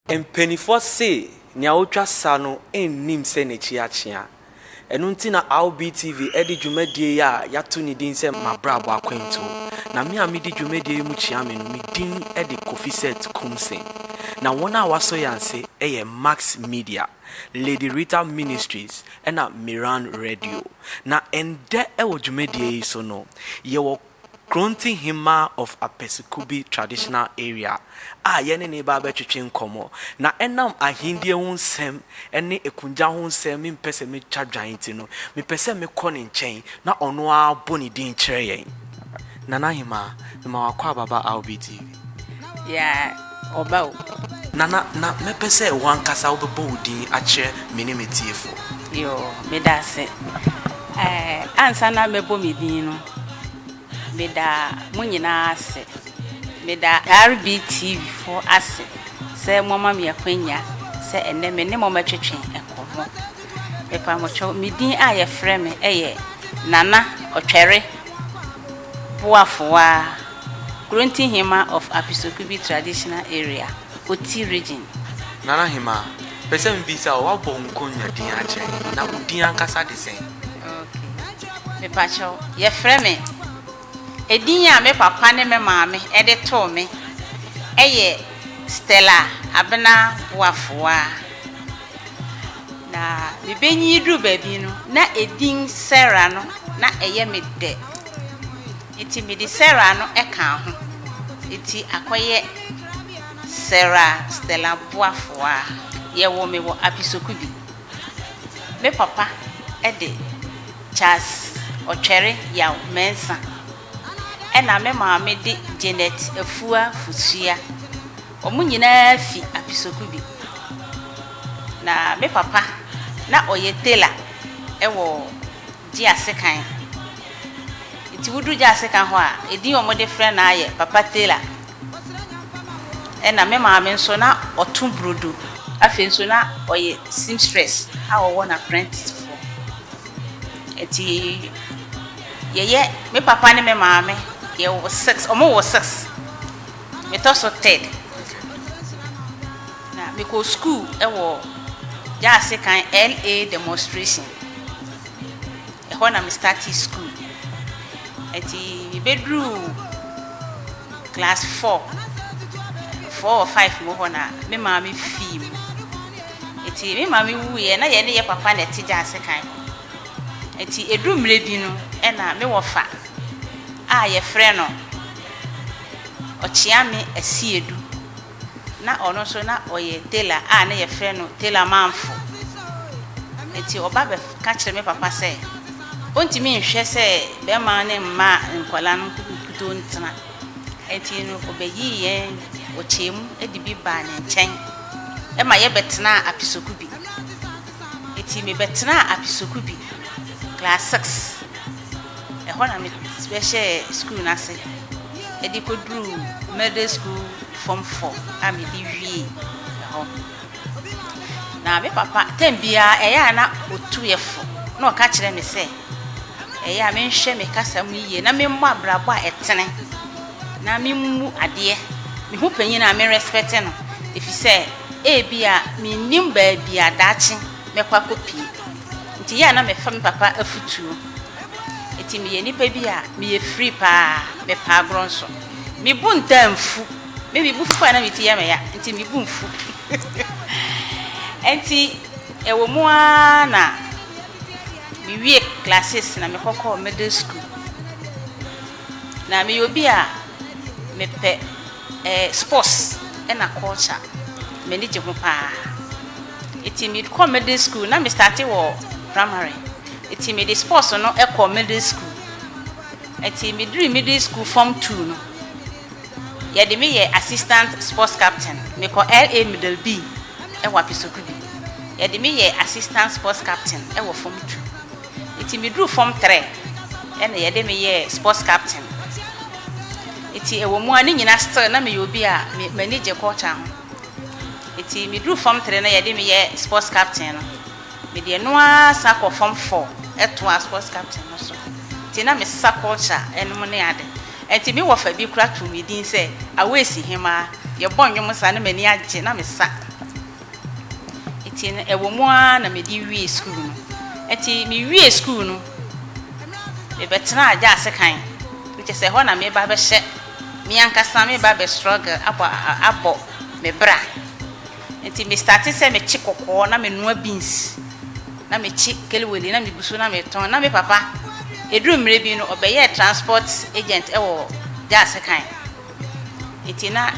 Mpanimfoɔ se nea ɔtwa sa no nnim sɛ n'akyi akyea. Ɛno nti na RBTV de dwumadie yi a yɛato ne din sɛ M'abrabɔ Akwantuo. Na me a medi dwumadie yi mu kyea me no, me din de Kofisɛt Kumseng. Na wɔn a wɔasɔ yɛn ase yɛ Max Media. Lady Rita Ministries na Miran Radio. Na ɛndɛ wɔ dwumadie yi so no, yɛwɔ Kronti Hemmaa of Apesikubi Traditional Area a yɛne no reba abɛtwetwe nkɔmmɔ. Na ɛnam ahendie ho nsɛm ne akungya ho nsɛm me mpɛ sɛ me twa dwan nti no, me pɛ sɛ me kɔ ne nkyɛn na ɔno ara bɔ ne din kyerɛ yɛn. Nana Hemaa, mema wakɔ ababa Albee TV. Yaa ɔba o. Nana na mɛpɛ sɛ wankasa wobɛbɔ wo din akyerɛ me ne m'atiefoɔ. Yoo meda ase ɛɛ ansa na mɛbɔ me din no meda mo nyinaa ase meda RBTV foɔ ase sɛ moama me akwanya sɛ ɛnɛ me ne mo mɛtwetwe nkɔmmɔ mepa mo kyɛw me din a yɛfrɛ me ɛyɛ Nana Ɔtwɛre Boafowaa. Kurontihema of Apisokubi Traditional Area, Oti Region. Nana Hemaa, pɛ sɛ mebisa wo, woabɔ Nkonya din akyerɛ he? Na wo din ankasa de sɛn? Ok. Mepakyɛw, yɛfrɛ me, edin a me papa ne me maame de too me yɛ Stella Abena Boafoaa. Na mibenyin duru baabi no, na edin Sarah no, na ɛyɛ me dɛ. Enti mede Sarah no kaa ho. Enti akɔyɛ Sarah Stella boafoa. Yɛwoo me wɔ Apisoku bi. Me papa de Charles Ɔtwɛre Yaw Mensah ɛna me maame de Janet Afua Fusua. Wɔn nyinaa fi Apisoku bi. Na me papa na ɔyɛ tailor wɔ. Gyeasekan. Nti woduru Gyeasekan hɔ a, edin a wɔde frɛ no ara yɛ Papa Tailor. Ɛnna me maame nso, na ɔto burodo. Afei nso, na ɔyɛ seamstress a ɔwɔ n'apprenticefoɔ. Nti yɛyɛ, me papa ne me maame, yɛwɔ six, wɔwɔ six. Metɔ so third na mekɔ school wɔ Jaase kan LA demonstration ɛhɔ na me startee school ɛti me bɛduruu class four four or five mu hɔ na me maame fii mu ɛti me maame wuiɛ na yɛ ne yɛ papa na ɛte Jaase kan hɔ ɛti ɛduru mmerɛ bi no ɛna me wɔfa a yɛfrɛ no Ɔkyeame Asiedu, na ɔno nso na ɔyɛ tailor a na wɔfrɛ no Tailor Mamfo. Enti ɔba bɛka kyerɛɛ me papa sɛ ɔntumi nhwɛ sɛ barima no mma nkwadaa no nkutoo ntena. Enti no ɔbɛyii yɛn wɔ kyɛm mu de bi baa ne nkyɛn ma yɛbɛtenaa Apisokubi. Enti mebɛtenaa Apisokubi class six. Ɛhɔ na mebɛhyɛɛ sukuu no ase de kɔduruu Middle School Form Four a mede wiee ɛhɔ. Na me papa tɛm biara ɛyɛ a na ɔtu yɛ fo na ɔka kyerɛ me sɛ ɛyɛ a menhwɛ me kasa mu yie na memmɔ abrabɔ a ɛtene na memmu adeɛ. Me ho panyin a me respect no ɛfiri sɛ ebi a mennim baabi a daakye mɛkɔ akɔpie. Enti yɛ a na mefa me papa afutuo. Enti meyɛ nipa bi a meyɛ free paa, mepɛ agorɔ nso. Me bo ntaa nfu. Me me bo fu paa na me ti yɛ me ya, enti me bo nfu. Enti ɛwɔ mu ara na me wie classes na me kɔkɔɔ middle school. Na meyɛ obi a mepɛ. Sports na culture m'ani gye ho paa nti me kɔ middle school na me starte wɔ primary nti me de sports no kɔ middle school nti me duru middle school form two no yɛ de me yɛ assistant sports captain me kɔ LA middle B wɔ apisoku bi yɛ de me yɛ assistant sports captain wɔ form two nti me duru form three na yɛ de me yɛ sports captain. Enti ɛwɔ mu ara ne nyinaa still na meyɛ obi a m'ani gye culture ho. Enti meduru fam three na yɛde me yɛ sports captain no. Mede ɛno ara san kɔ fam four toaa sports captain no so. Enti na mesesa culture nom ne ade. Enti me wɔfa bi koraa too me din sɛ Awɛsi Hemaa. Yɛbɔ nnwom saa na m'ani agye na mesa. Enti no ɛwɔ mu ara na mede wiee sukuu no. Enti mewiee sukuu no, mebɛtenaa gya asekan, ne kyerɛ sɛ ɛhɔ na mereba abɛhyɛ me ankasa mereba abɛ struggle abɔ abɔ me bra. Enti me startee sɛ mekye kɔkɔɔ na menoa beans, na mekye kelewele na megu so na metɔn. Na me papa, ɛduru mmerɛ bi no ɔbɛyɛɛ transport agent wɔ gya asekan. Nti na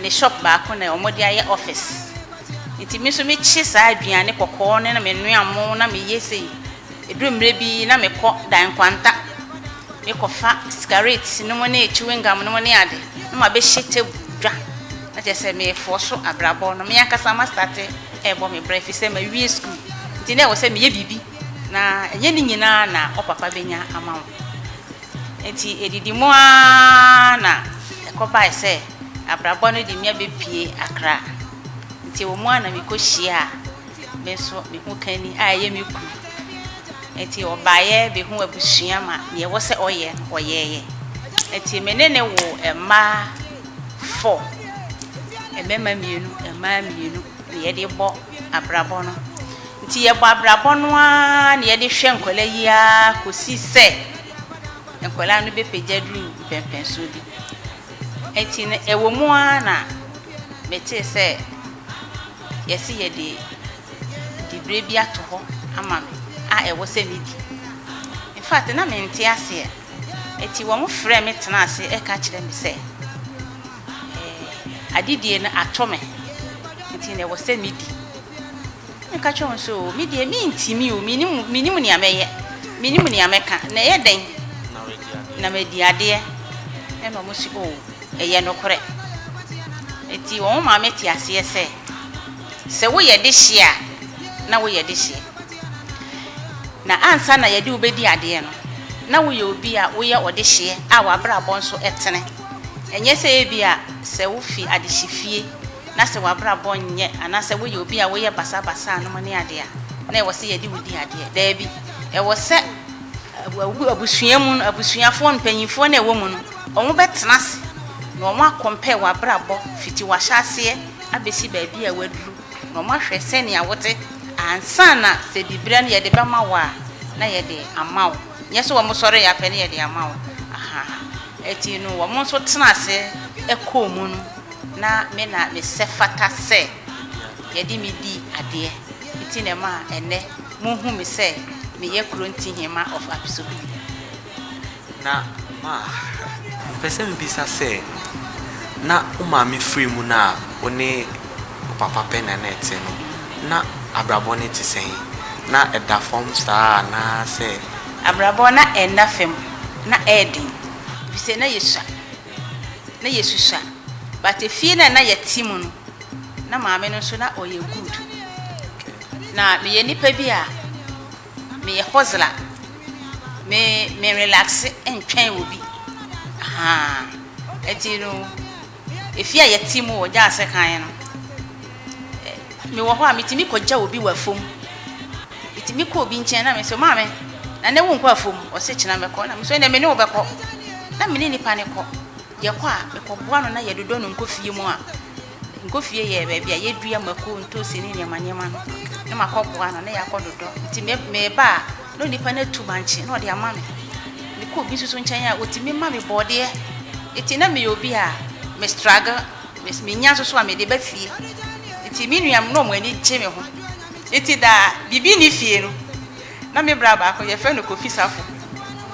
ne shop baako na wɔde ayɛ office. Nti me nso mekye saa aduane kɔkɔɔ no na menoa mo na meyɛ sei. Ɛduru mmerɛ bi na mekɔ dan nkwanta. Mekɔfa sigaret nom ne chewing gum nom ne ade na mabɛhyɛ table dwa. Na kyerɛ sɛ merefoɔ so abrabɔ no. Me ankasa mastate rebɔ me bra ɛfiri sɛ mawie sukuu. Nti na ɛwɔ sɛ meyɛ biribi na ɛnyɛ ne nyinaa na wo papa bɛnya ama wo. Enti edidi mu ara na ɛkɔbae sɛ abrabɔ no de mia bepue Accra. Enti ɛwɔ mu ara na mikohyiaa me nso me ho kanni a ɛyɛ me kunu. Enti ɔbaeɛ bɛhuu abusua ma deɛ ɛwɔ sɛ ɔyɛ no ɔyɛeɛ. Enti me ne no woo mmaa four, mmarima mmienu, mmaa mmienu, deɛ yɛde bɔ abrabɔ no. Nti yɛbɔ abrabɔ no ara na yɛde hwɛ nkwadaa yi ara kɔsi sɛ nkwadaa no bɛpagya aduru mpɛnpɛnsoɔ bi. Nti no ɛwɔ mu ara na metee sɛ yɛse yɛde diberɛ bi ato hɔ ama me a ɛwɔ sɛ medi. In fact na mente aseɛ. Nti wɔn frɛɛ me tenaa ase ɛka kyerɛ me sɛ. adedie no atɔ me, nti na ɛwɔ sɛ medi. Na meka kyerɛɛ wɔn sɛ, O, me deɛ, mentumi o, mennim, mennim nea mɛyɛ, mennim nea mɛka, na ɛyɛ dɛn na madi adeɛ? Ɛnna wɔn se, O, ɛyɛ nokorɛ. Nti wɔn maa mete aseɛ sɛ, Sɛ woyɛ dehyeɛ a, na woyɛ dehyeɛ, na ansa na yɛde wo bɛdi adeɛ no, na woyɛ obi a woyɛ ɔdehyeɛ a w'abrabɔ nso tene. Ɛnyɛ sɛ ebia sɛ wofi adehyefie na sɛ w'abrabɔ nyɛ anaasɛ woyɛ obi a woyɛ basabasa anom ne ade a, na ɛwɔ sɛ yɛde wo di adeɛ. Daabi. Ɛwɔ sɛ abusua mu no, abusuafoɔ no, mpanimfoɔ no a ɛwɔ mu no, wɔbɛtena ase na wɔakɔmpɛɛ w'abrabɔ fiti w'ahyɛaseɛ abɛsi baabi a woaduru na wɔahwɛ sɛnea wote ansa na sɛ diberɛ no yɛde bɛma wo a, na yɛde ama wo. Nyɛ sɛ wɔn sɔre yɛ pɛ ne yɛde ama wo ahaa eti no wɔn nso tena ase ɛkɔɔ mu no na me na me sɛ fata sɛ yɛde me di adeɛ eti na ɛmaa ɛnɛ mo hu me sɛ me yɛ Kronti Hema of Apisogui. Na ma me pɛ sɛ me bisa sɛ na wo maame firi mu no a wo ne ɔpapa pɛ na na ɛte no, na abrabɔ no te sɛn? Ná ɛda fam saa anaasɛ? Abrabɔ na ɛnna fam. Ná ɛyɛ den, efisɛ na yesua. Na yesusua. But efie no a na yɛte mu no, na maame no nso na ɔyɛ good. Na meyɛ nipa bi a meyɛ hustler. Me me relaxe ntwɛn obi. Ahaa. Enti no. Efi a yɛte mu wɔ Gyaase kan no, mewɔ hɔ a, mitumi kogyaw obi wɔ afuw mu. Mitumi kɔ obi nkyɛn na mise no, Maame, na nnɛ wonkɔ afuw mu? Ɔse, Kyena mɛkɔ. Ɛna mise no, Ɛnde me ne wo bɛkɔ. Na me ne nipa no kɔ. Yɛkɔ a, mekɔboa no na yɛdodɔ no nkɔ fie mu a. Nkɔ fie yɛ baabi a yedua mako, ntoosi ne nneɛma nneɛma no. Na makɔboa no na yɛakɔdodɔ. Enti meba a, Na onipa no atu bankye na ɔde ama me. Mekɔ obi nso so nkyɛn a, otumi ma me borɔdeɛ. Enti na meyɛ obi a me struggle, me menya nso so a mede ba fie. Enti me nuanom na wɔn ani gye me ho. Enti da a biribi nni fie no, na me bra baako yɛfrɛ no Kofi Safo.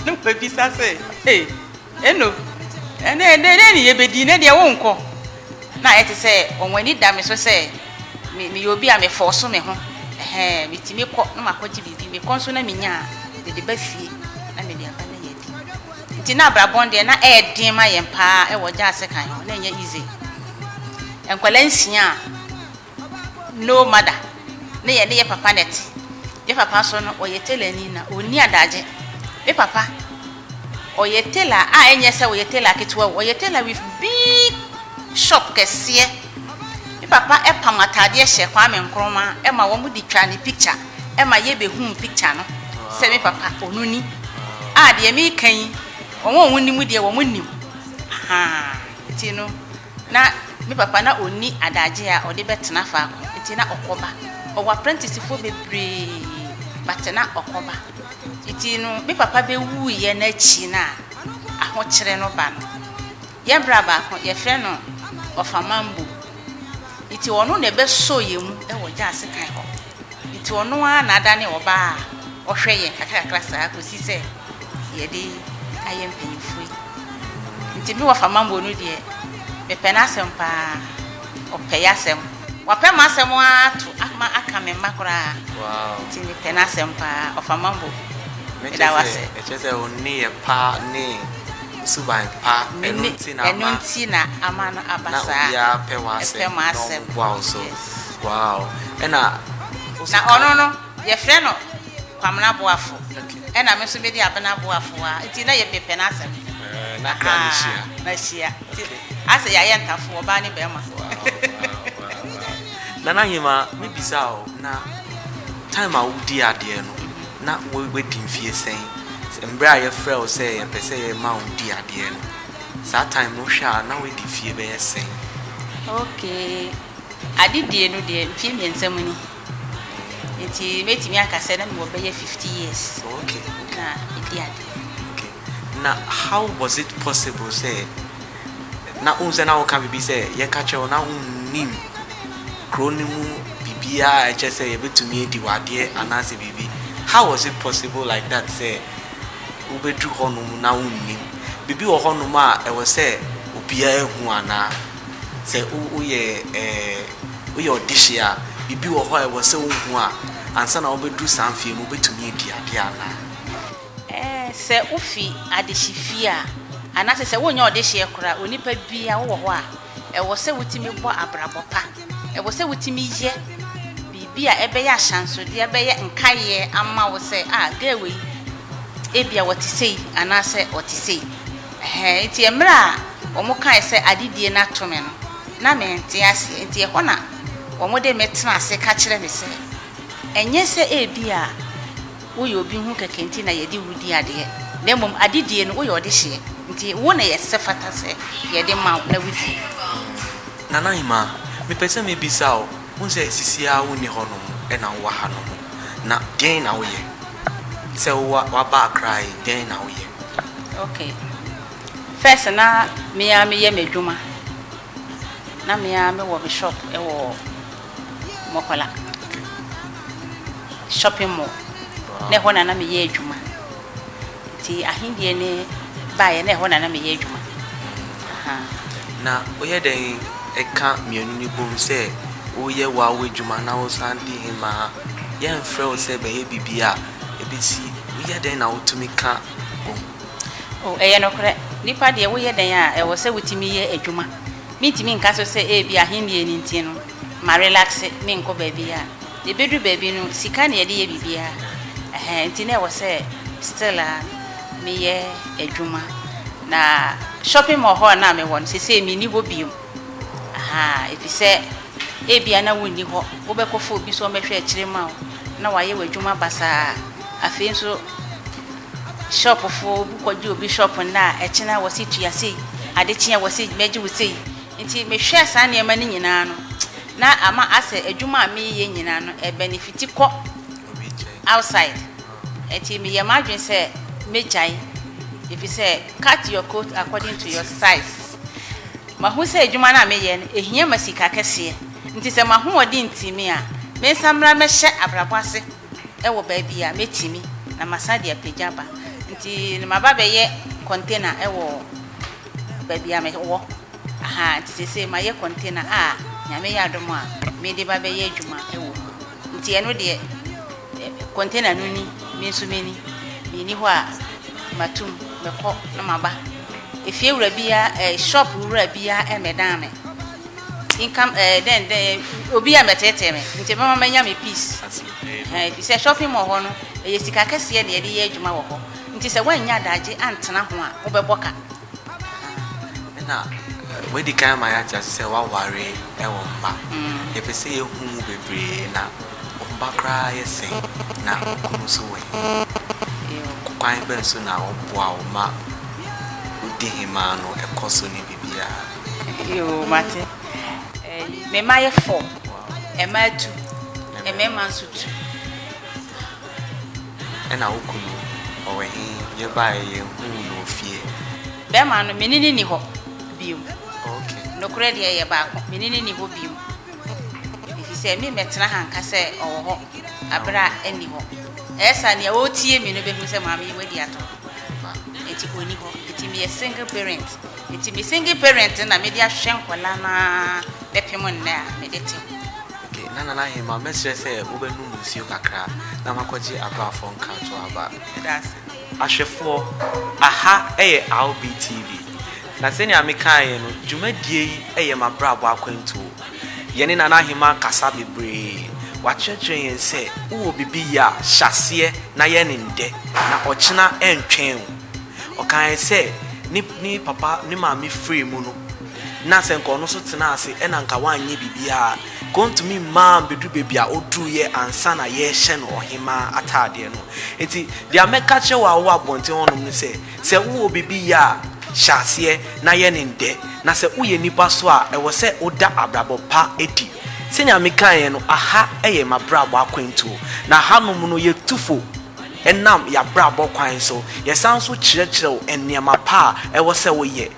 Na wɔbisa sɛ, Ei, Eno ɛnɛ ɛnɛ dɛn ne yɛbɛdi? Nnɛ deɛ wonkɔ. Na ayɛ te sɛ wɔn ani da me so sɛ me meyɛ obi a mefɔɔso me ho. Ɛhɛɛ, metumi kɔ na makɔgye biribi, mekɔ nso na menya a, mede ba fie na mede aba na yɛadi. Nti na abrabɔ no deɛ na ɛyɛ den ma yɛn pa ara wɔ Gyasekan hɔ, na ɛnyɛ easy. Nkwadaa nsia a. No mother ne yɛ ne yɛ papa na ɛte. Yɛ papa nso no ɔyɛ tailor ni na ɔnni adagye. Me papa ɔyɛ tailor a ɛnyɛ sɛ ɔyɛ tailor ketewa o, ɔyɛ tailor with big shop kɛseɛ. Me papa pam ataadeɛ hyɛ Kwame Nkrumah ma wɔn de twa ne picture ma yɛ bɛhuu picture no sɛ me papa ɔno ni. A deɛ meka yi wɔn a wɔnim deɛ wɔn nim ahaa nti no. Ná me papa na onni adagye a ɔde bɛtena faako, enti na ɔkɔba. Ɔwɔ apprenticefoɔ bebree, but na ɔkɔba. Enti no, me papa bɛwuiɛ no akyi no a ahokyere no ba no, yɛn bra baako, yɛfrɛ no Ɔfamambo. Enti ɔno na ɛbɛsɔɔ yɛn mu wɔ Gyaase kan hɔ. Enti ɔno ara na adane ɔbaa a ɔhwɛ yɛn kakrakakra saa kɔsi sɛ yɛde ayɛ mpanyimfoɔ yi. Enti me wɔfa Mambo no deɛ, mepɛ n'asɛm pa ara. Ɔpɛ y'asɛm. Wapɛ m'asɛm ara ato ma aka me mma koraa. Enti mepɛ n'asɛm pa ara. Ɔfa Mambo, meda wo ase. Ɛkyerɛ sɛ wo nneyɛɛ pa ne wo suban pa, ɛno nti na ama, na obiara pɛ w'asɛm na wɔboa wo so. Wow ɛna wo se ka. Na ɔno no yɛfrɛ no Kwamena Boafo ɛna me nso medi Abena Boafo wa nti na yɛpɛ pɛ n'asɛm. Ɛɛ na kra no hyia. Ah na hyia nti asɛ yɛayɛ ntafo ɔbaa ne bɛɛma. Wow wow wow wow Nana Nyema me bisa wo na time a wo di adeɛ no na wadi mfie sɛn? Mbrɛ a yɛfrɛ wo sɛ yɛpɛ sɛ yɛ ma wo di adeɛ no saa time no wo hwɛ a na wadi fie bɛyɛ sɛn? Okay. Adedie no deɛ mfeɛ mmiɛnsa mu ni nti mɛtumi aka sɛ na mewɔ bɛyɛ fifty years na medi adeɛ. Na how was it possible sɛ na wohu sɛ na woka biribi sɛ yɛka kyerɛ wo na wonnim kuro no mu biribiara a ɛkyerɛ sɛ yɛbɛtumi adi wo adeɛ anaasɛ biribi how was it possible like that sɛ wobɛduru hɔnom na wonnim? Biribi wɔ hɔnom a ɛwɔ sɛ obiara hu anaa? Sɛ woyɛ woyɛ ɔdehye a, biribi wɔ hɔ a ɛwɔ sɛ wohu a ansa na wobɛduru saa mfeɛ mu, wobɛtumi adi adeɛ anaa? Sɛ wofi adehyefie a, anaasɛ sɛ wonyɛ ɔdehyeɛ koraa, onipa biara wowɔ hɔ a, ɛwɔ sɛ wotumi bɔ abrabɔ pa. Ɛwɔ sɛ wotumi yɛ biribi a ɛbɛyɛ ahyɛnsodeɛ, ɛbɛyɛ nkaeɛ ama wo sɛ, ah, girl wei, ebia ɔte sei anaasɛ ɔte sei. Ɛhɛɛ, enti mmerɛ a wɔ'kae sɛ, Adedie no ato me no, na mente aseɛ, enti ɛhɔ na wɔ'de me tena ase ka kyerɛ me sɛ, Ɛnyɛ sɛ ebia woyɛ obi ho kɛkɛ nti na yɛde wo di adeɛ, na mmom adedie no woyɛ ɔdehyeɛ, nti wo na yɛsɛfata sɛ yɛde ma wo na wodi. Nana Ahimaa, mepɛ sɛ mebisa wo. Wohu sɛ seesei ara wunni hɔnom na wowɔ hanom. Na dɛn na woyɛ? Sɛ wo a woaba Accra yi, dɛn na woyɛ? Okay. First na me ara meyɛ m'adwuma. Na me ara mewɔ me shop wɔ Mokola. Okay. Shopping mall. Wow. Na ɛhɔ na na meyɛ adwuma. Nti ahendie no baeɛ na ɛhɔ na na meyɛ adwuma ahaa. Na woyɛ dɛn ka mmienu no bom sɛ woyɛ w'awo adwuma na wosan di hemaa? Yɛnfrɛ wo sɛ bɛyɛ biribi a ɛbɛsi woyɛ dɛn na wotumi ka bom? O, ɛyɛ nokorɛ. Nnipa deɛ woyɛ dɛn a ɛwɔ sɛ wotumi yɛ adwuma. Mentumi nka so sɛ ebia ahendie no nti no ma relaxe menkɔ baabiara. Na ebedu baabi no sika na yɛde yɛ biribiara ɛhɛn nti na ɛwɔ sɛ still a meyɛ adwuma na shopping mall hɔ a na mewɔ no sesei menni hɔ biom ahaa efisɛ ebia na wonni hɔ wobɛkɔfa obi sɛ ɔmmɛhwɛ akyire ma wo na wayɛ w'adwuma basaa afei nso shop foɔ obi kɔgye obi shop nnɛ a ɛkyena wɔ se tua sei adekyeɛ wɔ se mɛgye wo sei. Enti mehwɛɛ saa nneɛma no nyinaa no, na ama asɛ adwuma a mereyɛ nyinaa no ɛbenefiti kɔ outside. Enti meyɛɛ m'adwene sɛ mɛgyae efisɛ cut your coat according to your size. Mahu sɛ adwuma no a meyɛ no ɛhia ma sika kɛseɛ, nti sɛ m'ahoɔden nti me a, mensan mmra mmɛhyɛ abrabɔ ase wɔ baabi a mɛtumi na masan de apagya aba. Enti na maba abɛyɛ container wɔ Baabi a me wɔ ha nti seesei mayɛ container a Nyame yɛ adom a mede ba bɛyɛ adwuma wɔ mu. Nti ɛno deɛ container no ni, me nso me ni. Me nni hɔ a mato mu, mɛkɔ na maba. Efie wura biara eh, shop wura biara ɛmmɛdan me. Income eh, dɛn dɛn, obi a mɛteetee me, nti ɛbɛma mɛnya me peace. Ɛhɛn, ɛfiri sɛ shopping mall hɔ no, ɛyɛ sika kɛseɛ na yɛde yɛ adwuma wɔ hɔ. Nti sɛ woannya adaagye antena ho a, wobɛbɔ ka. Ahaa. Ɛna wɔadi kan ama yɛate ase sɛ woaware wɔ mma. Yɛpɛ sɛ yɛhu mu bebree. Na wo mma koraa yɛ sɛn? Na wo kunu nso wɔ he? Kwan bɛn so na ɔboa wo ma wodi hemaa no kɔ so ne biribiara? Yoo, mate. Ɛɛi, me mma yɛ four. Wow. Mmaa tu, mmarima nso tu. Ɛna wo kunu ɔwɔ he? Yɛbaeɛ yɛhuu no wɔ fie. Bɛɛma no, me ne no nni hɔ biom. Ok. Nokorɛ deɛ yɛ baako, me ne no nni hɔ biom. Efisɛ memmɛtena ha nka sɛ ɔwɔ hɔ aberɛ a ɛnni hɔ. Ɛyɛ saa a, nea ɔretie me no bɛhunu sɛ maame yi wadi atoro. Enti ɔnni hɔ. Enti meyɛ single parent. Enti me single parent no na mede ahwehwɛ nkwadaa no ara bɛpem nnɛ a mede te ho. Ke, na Nana Hemaa, mɛsrɛ sɛ wobɛnom nsuo kakra na makɔgye abraafoɔ nkratoɔ aba. Meda ase. Ahwɛfoɔ, aha yɛ RB TV, na sɛnea mekaeɛ no, dwumadie yi yɛ m'abrabɔ akwantuo. Yɛne Nana Ahemaa kasa bebree. Wakyerɛkyerɛ yɛn sɛ, wowɔ biribi yɛ a, hyɛ aseɛ na yɛ no nnɛ, na ɔkyena ɛntwɛn wo. Ɔkaeɛ sɛ, ne, ne papa, ne maame firii mu no, na sɛ nka ɔno nso tenaa ase na nka wanyɛ biribiara a, nka ontumi mmaa ammɛduru baabi a oduruiɛ ansa na yɛrehyɛ no ɔhemmaa ataadeɛ no. Enti deɛ mɛka kyerɛ wo a wowɔ abɔnten hɔnom ne sɛ, sɛ wowɔ biribi yɛ a, hyɛ aseɛ na yɛ no nnɛ, na sɛ woyɛ nnipa so a, ɛwɔ sɛ woda abrabɔ pa adi. Sɛnea mekaeɛ no, aha yɛ m'abrabɔ akwantuo, na hanom no yɛtu fo nam yɛabrabɔ kwan so, yɛsan nso kyerɛkyerɛ wo nneɛma pa a ɛwɔ sɛ woyɛ.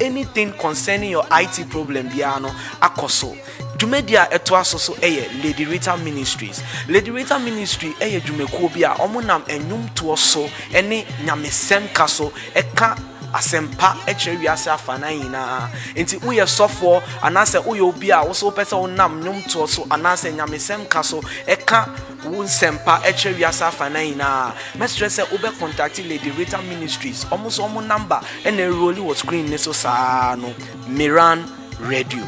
Anything concerning your IT problem biara no akɔ so. Dwumadi a ɛtoa so so yɛ Lady Rita Ministries. Lady Rita Ministry yɛ dwumakuo bi a wɔnam nnwomtoɔ so ne nyamesɛmka so ka asɛmpa kyerɛ wiase afanan nyinaa. Enti woyɛ sɔfoɔ anaasɛ woyɛ obi a wo nso wopɛ sɛ wonam nnwomtoɔ so anaasɛ nyamesɛmka so ka Wo nsɛmpa kyerɛ wiase afanan nyinaa. Mɛsrɛ sɛ wobɛ contact Lady Rita Ministries, wɔn nso wɔn number na ɛrerolli wɔ screen no so saa ara no, Miran Radio.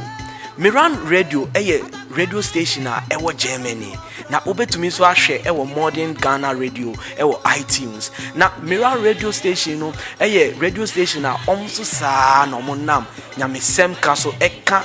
Miran Radio yɛ radio station a ɛwɔ Germany, na wobɛtumi nso ahwɛ wɔ Modern Ghana Radio wɔ iTunes. Na Miran Radio station no yɛ radio station a wɔn nso saa ara na wɔnam nyamesɛm ka so ka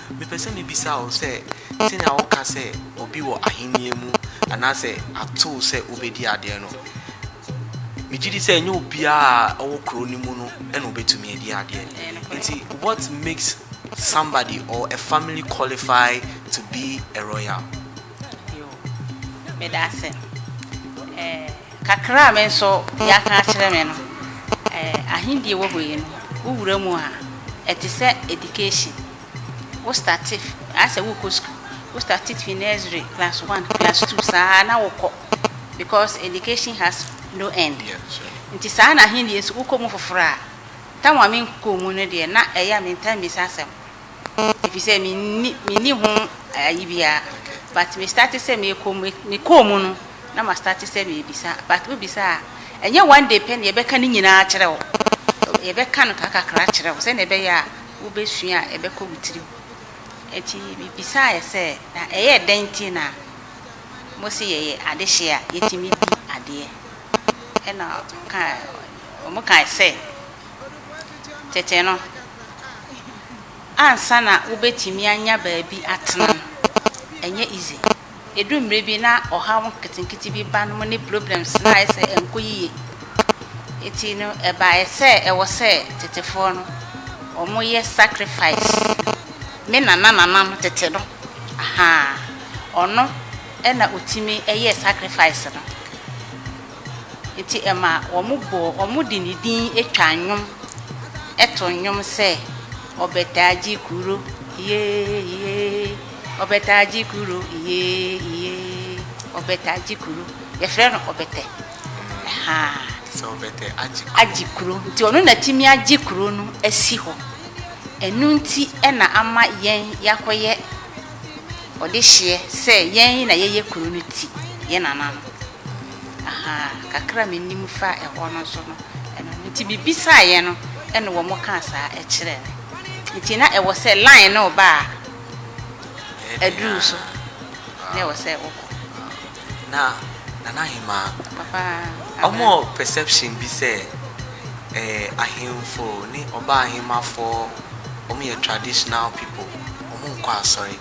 Mepɛ sɛ mibisa wo sɛ, sɛnea woka sɛ obi wɔ Ahenni mu anaasɛ atow sɛ wobedi ade no, migye di sɛ ɛnyɛ obiara a ɔwɔ kurow no mu no na obetumi adi ade. Enti what makes somebody or a family qualify to be a royal? Yoo, meda ase. Eh. Kakra a me nso yɛaka akyerɛ me no, Ahendie wɔ hɔ yi no, wo wura mu a, ɛte sɛ education. Wo starte, ayɛ sɛ worekɔ sukuu. Wo starte fi nursery, class one, class two, saa na wokɔ, because education has no end. Nti saa na Ahendie nso, wokɔ mu foforɔ a, time a me nkɔɔ mu no deɛ, na ɛyɛ a me taa mmisa asɛm. efisɛ minni minni ho ayi biara but me starte sɛ mekɔ mu mekɔɔ mu no na ma starte sɛ mebisa but wobisa a ɛnyɛ one day pɛ na yɛbɛka ne nyinaa kyerɛ wo yɛbɛka no kakakra kyerɛ wo sɛnea ɛbɛyɛ a wobɛsua a ɛbɛkɔ wo tirim ɛti mebisa yɛ sɛ na ɛyɛ dɛn nti na mo se yɛyɛ adehye a yɛtumi di adeɛ ɛna ɔka wɔn kae sɛ Tete no, ansa na wobetumi anya baabi atena no, ɛnyɛ easy. Edu mmere bi na ɔhaw nketenkete bi ba no mu ne problems na ayɛ sɛ ɛnkɔ yiye. Enti no, ɛbae sɛ ɛwɔ sɛ tetefoɔ no, wɔyɛ sacrifice. Me nana nana no, tete no, ahaa, ɔno na otumi yɛɛ sacrifice no. Enti ɛma wɔbɔɔ wɔn de ne din twaa nnwom too nnwom sɛ, Ɔbɛtagye kuro, iyee, iyee, Ɔbɛtagye kuro, iyee, iyee, Ɔbɛtagye kuro. Yɛfrɛ no Ɔbɛtɛ. Ɛhaa. Te sɛ Ɔbɛtɛ agye kuro. Agye kuro. Nti ɔno na atumi agye kuro no asi hɔ. Ɛno nti na ama yɛn yɛakɔyɛ ɔde hyeɛ sɛ yɛn na yɛyɛ kuro no ti, yɛn nana no. Ahaa, kakra me nim fa ɛhɔ no nso no, ɛno no. Nti me bisaa yɛ no, ɛna wɔn kaa saa ɛkyerɛ me. Nti na ɛwɔ sɛ line no ba a, aduru so na ɛwɔ sɛ wokɔ. Na Nana Ahemaa, wɔwɔ perception bi sɛ ɛɛ ahemfo ne ɔbaa ahemafoɔ wɔn yɛ traditional people, wɔn nkɔ asɔre.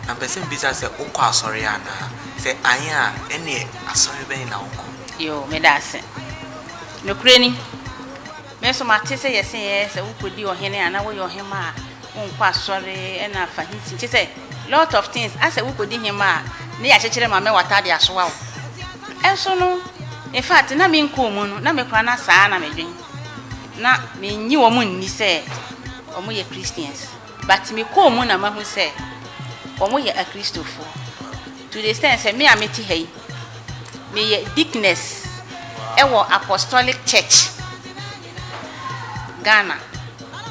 Na mpɛ sɛ mbisa sɛ wokɔ asɔre anaa? Sɛ ae a ɛneɛ asɔre bɛn na wokɔ? Yoo, meda ase. Nokorɛ ni. Me nso mate sɛ yɛse ɛ sɛ wokɔdi ɔhene anaa woyɛ ɔhemmaa a wonkɔ asɔre ɛna fa he si kyesɛ lot of things asɛ wokɔdi hemmaa a ne yɛ akyekyere ma mɛ watade asoa wo ɛnso no infact na me nkɔ ɔmu no na me kora na saa na me dwen na me nnye wɔn nni sɛ wɔn yɛ Christians. But me kɔɔ mu na mahu sɛ wɔn yɛ akristofoɔ to the extent sɛ me a mete ha yi meyɛ deaconess ɛwɔ apostolic church Ghana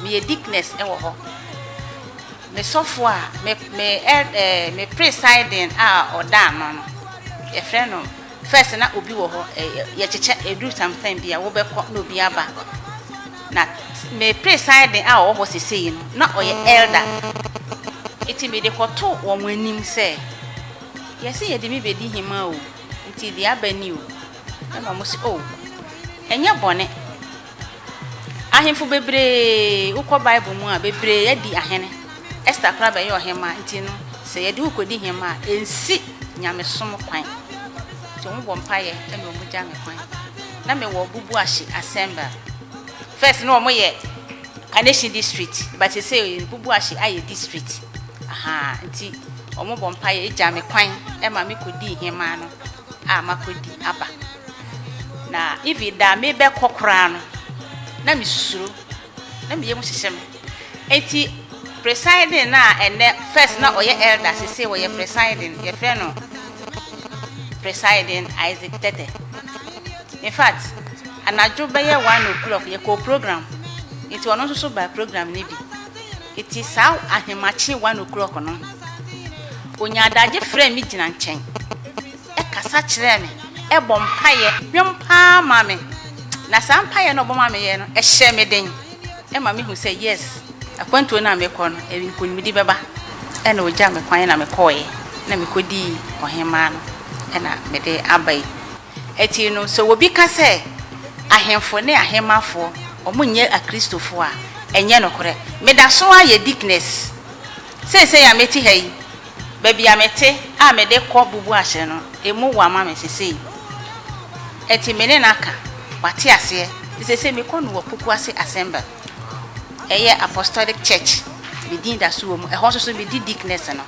meyɛ deaconess ɛwɔ hɔ me sɔfoɔ a me me ɛɛ me presiding a ɔda ano no yɛfrɛ no First na obi wɔ hɔ ɛyɛ yɛkyekyɛ ɛduru some time bi a wobɛkɔ na obi aba na me presiding a ɔwɔ hɔ sesei no na ɔyɛ elder nti mede kɔto wɔn anim sɛ yɛse yɛde me bɛdi hema o nti deɛ aba ni o ɛna wɔn se oh ɛnyɛ bɔne Ahemfo bebree, wokɔ Bible mu a, bebree adi ahene. Esther koraa bɛyɛɛ ɔhemmaa. Nti no, sɛ yɛde wo kɔdi hemmaa a, ɛnsi nyamesom kwan. Nti wɔbɔ mpaeɛ na wɔgya me kwan. Na mewɔ Bubuahye Assembly. First no wɔyɛ Kaneshie district, but seesei Bubuahye ayɛ district. Ahaa, nti wɔbɔ mpaeɛ gya me kwan ma mekɔdii hemmaa no a makɔdi aba. Na even da a mebɛkɔ koraa no, na mesuro. Na me yam hyehyɛ me. Enti presiding no a ɛnɛ, first na ɔyɛ elder, sese ɔyɛ presiding, yɛfrɛ no presiding Isaac Tete. In fact, anadwo bɛyɛ one o'clock yɛkɔɔ program, nti ɔno nso so baa program no bi. Nti saa ahemakye one o'clock no, onyaa adagye frɛɛ me gyina nkyɛn. kasa kyerɛɛ me, bɔ mpaeɛ, dwom pa ara maa me. Na saa mpaeɛ no a ɔbɔ maa me yɛ no, ɛhyɛɛ me den. Ɛma me hu sɛ yes, akwantuo no a mekɔ no, nkunimdie bɛba. Ɛna ɔgyaa me kwan na me kɔeɛ, na me kɔ dii ɔhemaa no ɛna me de aba yi. Ɛti no sɛ obi ka sɛ ahemfo ne ahemafoɔ wɔn nyɛ akristofoɔ a, ɛnyɛ nokorɛ. Me da so ara yɛ deaconess. Seesei a mete ha yi, baabi a mete a mede kɔ bubu ahyɛ no, emu wo ama me seesei. Enti me ne no aka, wate aseɛ. Nti seesei mekɔ no wɔ Pukuase Assemble. Ɛyɛ Apostolic Church, me din da so wɔ mu. Ɛhɔ nso so medi deaconess no.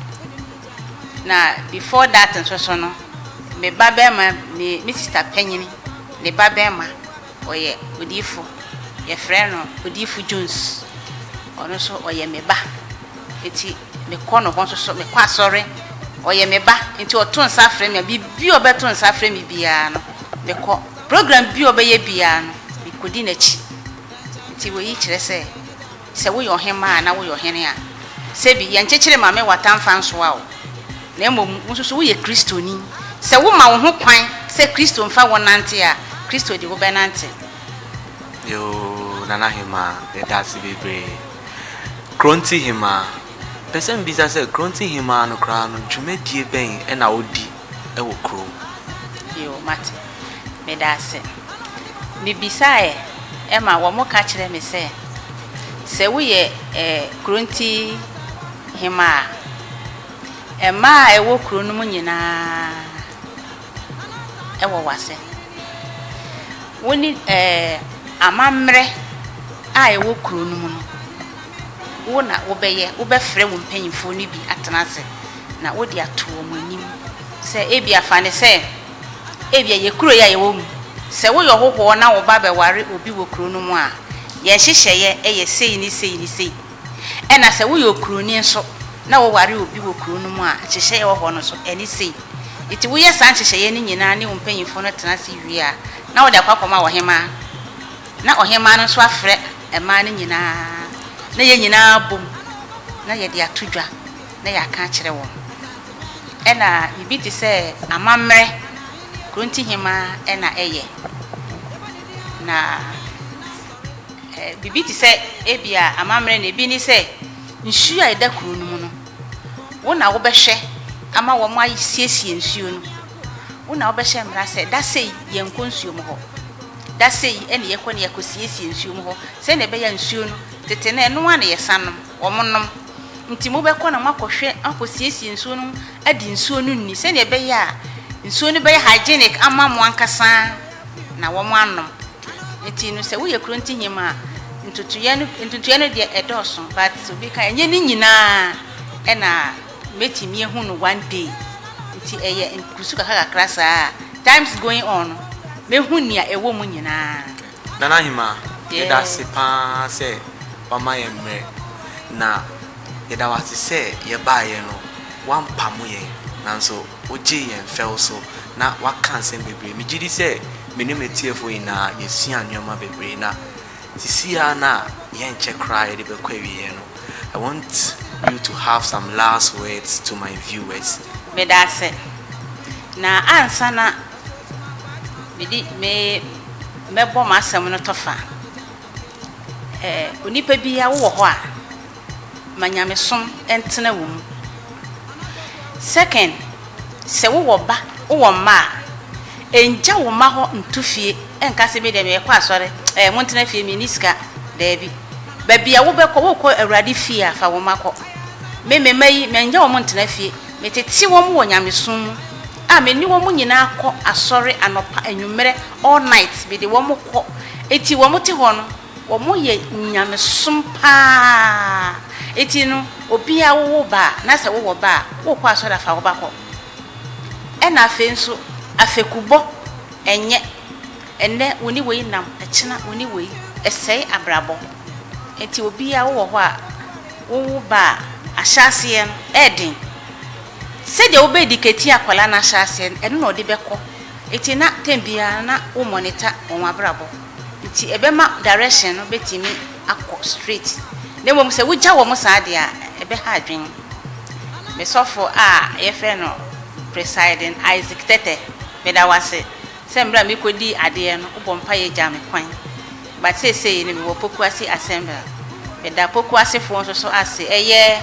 Na before that nso so no, me ba barima, me, me sista panyini, ne ba barima, Ɔyɛ odiyifo, yɛfrɛ no Odiyifo Jones. Ɔno nso ɔyɛ me ba, nti mekɔ ne hɔ nso so, mekɔ asɔre. Ɔyɛ me ba, nti ɔto nsa frɛ me a, biribi a ɔbɛto nsa afrɛ me biara no, mekɔ. Program bi a ɔbɛyɛ biara no, mikodi n'akyi. Nti wei kyerɛ sɛ. Sɛ woyɛ ɔhemmaa anaa woyɛ ɔhene a, sɛbi yɛ nkyekyere ma me wata mfa nsoa wo, na mmom wo nso so woyɛ Kristoni. Sɛ woma wo ho kwan sɛ Kristo mfa wo nnante a, Kristo de wobɛnante. Yoo Nana Hemaa yɛda ase bebree. Kronti Hemaa, Pɛ sɛ mebisa sɛ Kronti Hemaa no koraa no dwumadie bɛn na ɔdi wɔ kurom? Yoo mate. Meda ase. Mibisaeɛ ma wɔka kyerɛɛ me sɛ, Sɛ woyɛ Kronti Hemmaa a, mmaa a ɛwɔ kuro no mu nyinaa wɔ w'ase. Wo ne amammerɛ a ɛwɔ kuro no mu no, wo na wobɛyɛ, wobɛfrɛ wo mpanimfoɔ no bi atena ase na wode ato wɔn anim sɛ, ebia fa no sɛ, Ebia ɛyɛ kuro yi a yɛwɔ mu. Sɛ woyɛ ɔhohoɔ na wo ba bɛware obi wɔ kuro no mu a, yɛn nhyehyɛeɛ yɛ sei ne sei ne sei. Ɛna sɛ woyɛ okuroni nso na woware obi wɔ kuro no mu a, nhyehyɛeɛ a ɛwɔ hɔ no nso, ɛne sei. Enti woyɛ saa nhyehyɛeɛ no nyinaa ne wo mpanyimfoɔ no tena ase wie a, na wode akɔ akɔma ɔhemaa. Na ɔhemaa no nso afrɛ mmaa no nyinaa, na yɛn nyinaa abom na yɛde ato dwa. na yɛaka akyerɛ wɔn. Ɛna biribi te sɛ amammerɛ Kurontihemmaa na ɛyɛ. Na eh, biribi te sɛ ebia amammerɛ na ebi ne sɛ nsuo a ɛda kuro no mu no, wo na wobɛhwɛ ama wɔn asiesie nsuo no. Wo na wobɛhyɛ mmara sɛ da sei yɛnkɔ nsuo mu hɔ. Da sei ɛne yɛkɔ ne yɛkɔ siesie nsuo mu hɔ sɛdeɛ ɛbɛyɛ nsuo no tete no ɛno a na yɛsan nom. wɔnom. Enti mobɛkɔ na moakɔhwɛ, akɔsiesie nsuo no de nsuo no nni sɛdeɛ ɛbɛyɛ a nsuo no bɛyɛ hygienic ama mo ankasa na wɔanom. Enti no sɛ woyɛ kuro ntehema a, ntotoeɛ no ntotoeɛ no deɛ ɛdɔɔso but obi ka ɛnyɛ ne nyinaa na mɛtumi ahu no one day. Nti ɛyɛ nkusu kakra kakra saa a times going on no mɛhu nea ɛwɔ mu nyinaa. Nana Hemaa, yɛda ase pa ara sɛ woama yɛn mmerɛ, na yɛda wo ase sɛ yɛbaeɛ no, woampamo yɛn, nanso wogyee yɛn fɛw so, na woaka nsɛm bebree. Megye di sɛ me ne m'atiefoɔ nyinaa yɛasuaa nneɛma bebree, na seesei ara no a yɛnkyɛ koraa yɛde bɛkɔ awieeɛ no, I want you to have some last words to my viewers. Meda ase. Na ansa na mede me mɛbɔ m'asɛm no tɔfa. Ɛɛ onipa bi a wowɔ hɔ a, ma nyamesom ntena wo mu. Second, sɛ wowɔ ba, wowɔ mma a, ɛngya wo mma hɔ nto fie, ɛnka sɛ me deɛ mekɔ asɔre, ɛɛ montena fie menni sika. Daabi. Baabi a wobɛkɔ, wokɔ Awurade fie a, fa wo mma kɔ. Me, me mma yi, mɛngya wɔn ntena fie. Metete wɔn wɔ nyamesom mu. A me ne wɔn nyinaa kɔ asɔre anɔpa, anwummerɛ, all night, me de wɔn kɔ. Enti wɔn te hɔ no, wɔn yɛ nyamesom paa. Enti no, obiara wo wo ba a, na sɛ wo wɔ ba a, wo kɔ asɔre a fa wo ba kɔ. Ɛna afei nso, afekubɔ, ɛnyɛ, ɛnnɛ wo ne wei nam, ɛkyena wo ne wei, ɛsɛe abrabɔ. Enti obiara wo wɔ hɔ a, wo wo ba a, ahyɛ aseɛ no, ɛyɛ den. Sɛdeɛ wobɛdi kɛti akwadaa no ahyɛaseɛ no, ɛno na ɔde bɛkɔ. Nti na tɛm biara no na wo monitor wɔn abrabɔ. Nti ɛbɛma direction no bɛtumi akɔ straight. Na mmom sɛ wogya wɔn saa deɛ a, ɛbɛha adwene. Me sɔfo a yɛfrɛ no Presiding Isaac Tɛtɛ, meda wo ase sɛ mmerɛ a mekɔdii adeɛ no, wobɔ mpaeɛ gyaa me kwan. But seesei no mewɔ Pokuase Assemble. Meda Pokuasefoɔ nso so ase. Ɛyɛ.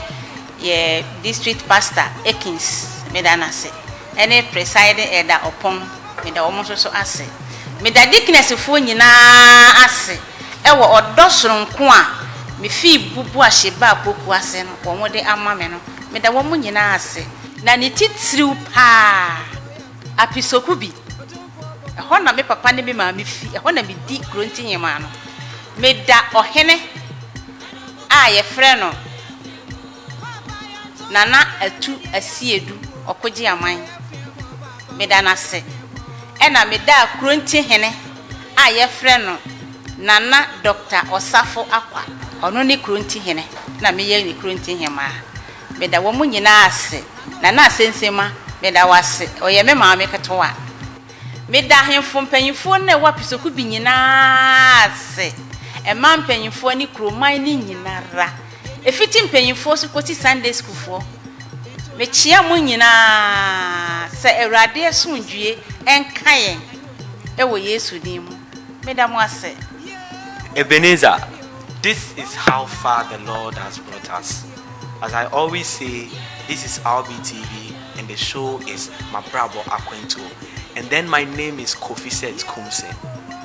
Yɛn District Pastor Akins, meda no ase, ɛne Presiding Elder Opong, meda wɔn nso so ase. Meda Deaconessfoɔ nyinaa ase wɔ ɔdɔ sononko a mefii bubuahyɛ baa Poku ase no, wɔn de ama me no, meda wɔn nyinaa ase. Na ne titiriw paa, Apisoku bi, ɛhɔ na me papa ne me maame fi, ɛhɔ na medi Kuronti Nhemaa no. Meda Ɔhene a yɛfrɛ no. Nana Atu Asiedu Ɔkogyeaman, meda no ase. Ɛna meda Akronti hene a yɛfrɛ no Nana Dɔkta Ɔsafo Akwa, ɔno ne Kronti hene na meyɛ ne Kronti hemaa. Meda wɔn nyinaa ase. Nana Asensema, meda wo ase. Ɔyɛ me maame ketewa. Meda ahemfo mpanyimfoɔ no a ɛwɔ Apisokubi nyinaa ase, ɛman mpanyimfoɔ ne kuroman no nyinara. Ɛfiti mpanyinfoɔ so kɔsi Sunday sukuufoɔ, mekyea mo nyinaa sɛ Awurade asomdwoeɛ nka yɛn wɔ Yesu din mu. Meda mo ase. Ebenezer, this is how far the Lord has brought us. As I always say, this is RBTV and the show is Mabrabɔ Akwantuo and then my name is Kofi Seth Kumse.